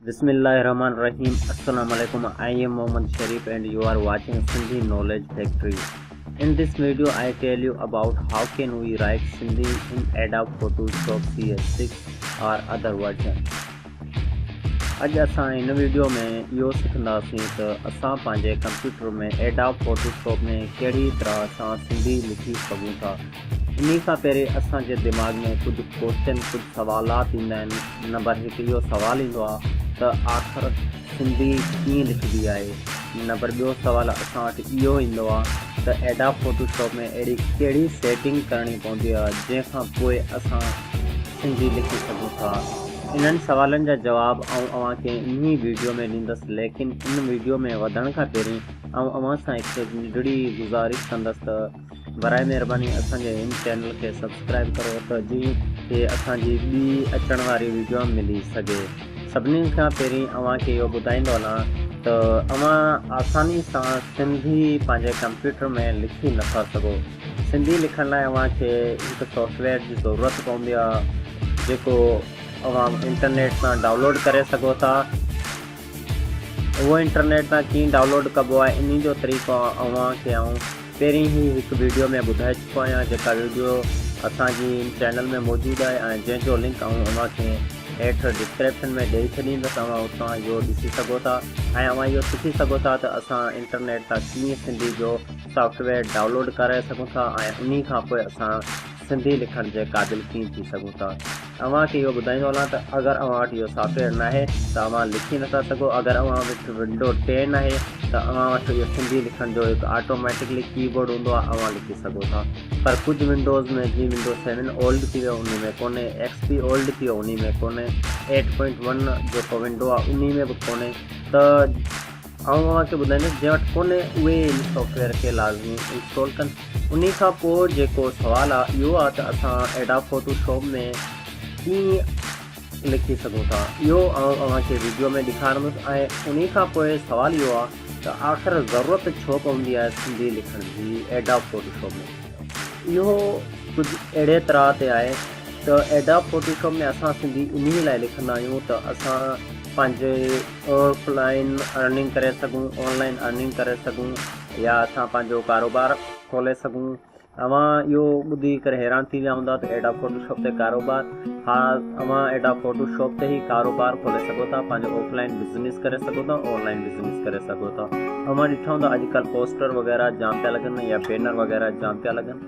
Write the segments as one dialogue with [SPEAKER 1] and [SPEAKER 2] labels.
[SPEAKER 1] بسم الله الرحمٰن الرحيم السلام عليڪم I am Muhammad Sharif and you are watching Sindhi knowledge factory in this video I tell you about how can we write Sindhi in Adobe Photoshop C S six or other version اڄ اسان هن video ۾ اهو سکنداسين ته اسان پنهنجي ڪمپيوٽر ۾ ايڊاب فوٽو شاپ ۾ ڪهڙي طرح سان سنڌي لکي سگهون ٿا انهي کان پهرين اسان جي دماغ ۾ ڪجهه ڪوشچن، ڪجهه سوالات ايندا آهن، نمبر هڪ اهو سوال ايندو آهي ته آخر سنڌي ڪيئن لکبي آهي؟ نمبر ٻيو سوال اسان وٽ اهو ايندو آهي ته ايڊاب فوٽو شاپ ۾ اهڙي ڪهڙي سيٽنگ ڪرڻي پوندي آهي جنهن کان پوء اسان سنڌي لکي سگهون ٿا؟ انهن سوالن جا جواب آئون اوهان کي انهي ويڊيو ۾ ڏيندس ليڪن ان ويڊيو ۾ وڌڻ کان پهرين آئون اوهان سان هڪ ننڍڙي گذارش ڪندس ته براء مهرباني اسان جي هن چينل کي سبسڪرائيب ڪرو ته جيئن ڪي اسان جي ٻي اچڻ واري ويڊيو ملي سگهي سڀني کان پهرين اوهان کي اهو ٻڌائيندو هلان ته اوهان آساني سان سنڌي پنهنجي ڪمپيوٽر ۾ لکي نٿا سگهو سنڌي لکڻ لاء اوهان کي هڪ سافٽويئر جي ضرورت پوندي آهي جيڪو اوهان انٽرنيٽ تان ڊائونلوڊ ڪري سگهو ٿا اهو انٽرنيٽ تان ڪيئن ڊائونلوڊ ڪبو آهي انهي جو طريقو اوهان کي آئون پهرين ئي هڪ ويڊيو ۾ ٻڌائي چڪو آهيان جيڪا ويڊيو اسان جي ان چينل ۾ موجود آهي ۽ جنهن جو لنڪ آئون اوهان کي هيٺ ڊسڪريپشن ۾ ڏئي ڇڏيندس اوهان اتان اهو ڏسي سگهو ٿا ۽ اوهان اهو سکي سگهو ٿا ته اسان انٽرنيٽ تان ڪيئن سنڌي جو سافٽويئر ڊائونلوڊ ڪرائي سگهون ٿا ۽ انهي کانپوء اسان سنڌي لکڻ جي قابل ڪين ٿي سگهون ٿا. اوهان کي اهو ٻڌائيندو هلان ته اگر اوهان وٽ اهو سافٽ ويئر ناهي ته اوهان لکي نٿا سگهو. اگر اوهان وٽ ونڊو ٽي ناهي ته اوهان وٽ اهو سنڌي لکڻ جو هڪ آٽوميٽڪلي ڪي بورڊ هوندو آهي اوهان لکي سگهو ٿا. پر ڪجهه ونڊوز ۾ جيئن ونڊو سيون اولڊ ٿي ويو انهي ۾ ڪونهي، ايڪس پي اولڊ ٿي ويو انهي ۾ ڪونهي، ايٽ پوائنٽ ون جيڪو ونڊو آهي انهي ۾ به ڪونهي ته. آئون اوهان کي ٻڌائيندس جنهن وٽ ڪونهي اهي ان سافٽ ويئر کي لازمي انسٽال ڪن انهي کان پوء جيڪو سوال آهي اهو آهي ته اسان ايڊاب فوٽو شاپ ۾ ڪيئن لکي سگهون ٿا اهو آئون اوهان کي ويڊيو ۾ ڏيکارندس ۽ انهي کان پوء سوال اهو آهي ته آخر ضرورت ڇو پوندي آهي سنڌي لکڻ جي ايڊاب فوٽو شاپ ۾ اهو ڪجهه اهڙي طرح تي آهي ته ايڊاب فوٽو شاپ ۾ اسان سنڌي انهي لاء لکندا آهيون ته اسان پنهنجي آف لائن ارننگ ڪري سگهون آن لائن ارننگ ڪري سگهون يا اسان پنهنجو ڪاروبار کولي سگهون اوهان اهو ٻڌي ڪري حيران ٿي ويا هوندا ته ايڊاب فوٽو شاپ تي ڪاروبار ها اوهان ايڊاب فوٽو شاپ تي هي ڪاروبار کولي سگهو ٿا پنهنجو آف لائن بزنس ڪري سگهو ٿا آن لائن بزنس ڪري سگهو ٿا اوهان ڏٺا هوندا اڄڪلهه پوسٽر وغيره جام پيا لڳن يا بينر وغيره جام پيا لڳن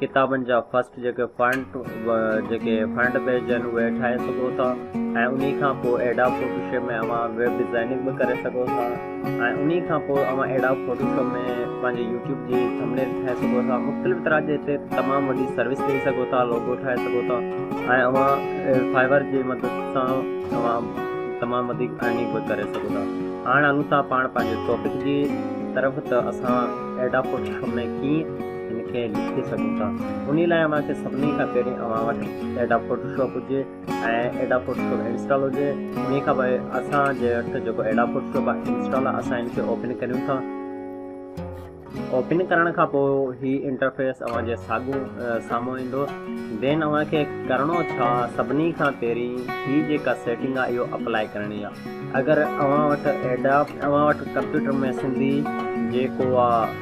[SPEAKER 1] ڪتابن جا فرسٽ جيڪي فرنٽ جيڪي فرنٽ پيج آهن اهي ٺاهي سگهو ٿا ۽ انهي کان پوء ايڊاب فوٽو شاپ ۾ اوهان ويب ڊزائننگ به ڪري سگهو ٿا ۽ انهي کان پوء اوهان ايڊاب فوٽو شاپ ۾ پنهنجي يوٽيوب جي ٿمنيل ٺاهي سگهو ٿا مختلف طرح جي هتي تمام وڏي سروس ڏئي سگهو ٿا لوگو ٺاهي سگهو ٿا ۽ اوهان فائبر جي مدد سان اوهان تمام وڌيڪ ارننگ به ڪري سگهو ٿا هاڻ هلون ٿا پاڻ پنهنجي ٽاپڪ جي طرف ته اسان ايڊاب فوٽو شاپ ۾ ڪيئن ان کي لکي سگهون ٿا انهي لاء اوهان کي سڀني کان پهرين اوهان وٽ ايڊاب فوٽوشاپ هجي ۽ ايڊاب فوٽوشاپ انسٽال هجي انهي کان پوء اسان جي وٽ جيڪو ايڊاب فوٽوشاپ آهي انسٽال آهي اسان ان کي اوپن ڪريون ٿا اوپن ڪرڻ کان پوء هي انٽرفيس اوهان جي ساڳو سامهون ايندو دين اوهان کي ڪرڻو ڇا سڀني کان پهرين هي جيڪا سيٽنگ آهي اهو اپلائي ڪرڻي آهي اگر اوهان وٽ ايڊاب اوهان وٽ ڪمپيوٽر ۾ سنڌي جيڪو آهي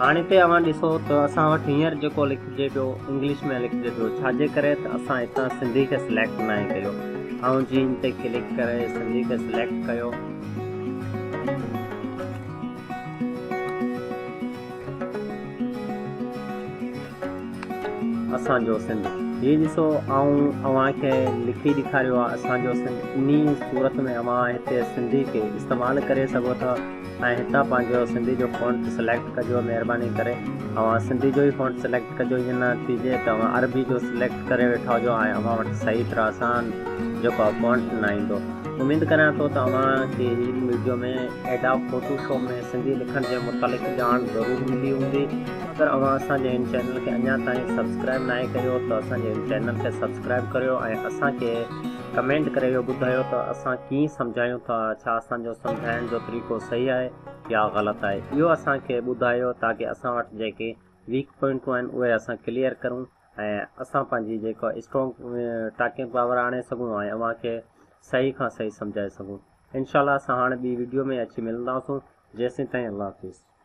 [SPEAKER 1] هاڻ هتي اوهان ڏسو ته اسان وٽ هينئر جيڪو لکجي پيو انگلش ۾ لکجي پيو ڇا جي ڪري ته اسان هتان سنڌي کي سليڪٽ ناهي ڪيو آئون جي هن تي ڪلڪ ڪري سنڌي کي سليڪٽ ڪيو اسان جو سنڌ هي ڏسو آئون اوهان کي لکي ڏيکاريو آ اسان جو سنڌ انهي صورت ۾ اوهان هتي سنڌي کي استعمال ڪري سگهو ٿا ۽ هتان پنهنجو سنڌي جو فونٽ سليڪٽ ڪجو مهرباني ڪري اوهان سنڌي جو ئي فونٽ سليڪٽ ڪجو ايئن نه ٿي جي ته اوهان عربي جو سليڪٽ ڪري ويٺا هجو ۽ اوهان وٽ صحيح طرح سان جيڪو آ فونٽ نه ايندو اميد ڪريان ٿو ته اوهان کي هي video ۾ Adobe Photoshop ۾ Sindhi لکڻ جي متعلق ڄاڻ ضرور ملي هوندي اگر اوهان اسان جي هن چينل کي اڃا تائين سبسڪرائب ناهي ڪيو ته اسان جي هن چينل کي سبسڪرائب ڪريو ۽ اسان کي ڪمينٽ ڪري اهو ٻڌايو ته اسان ڪيئن سمجهايون ٿا ڇا اسان جو سمجهائڻ جو طريقو صحيح آهي يا غلط آهي اهو اسان کي ٻڌايو تاڪه اسان وٽ جيڪي ويڪ پوائنٽون آهن اهي اسان ڪليئر ڪرون ۽ اسان پنهنجي جيڪو اسٽرانگ ٽاڪنگ پاور آڻي سگهون ۽ اوهان کي صحيح کان صحيح سمجهائي سگهون انشاء الله اسان هاڻي ٻي ويڊيو ۾ اچي ملنداسون جيسين تائين الله حافظ.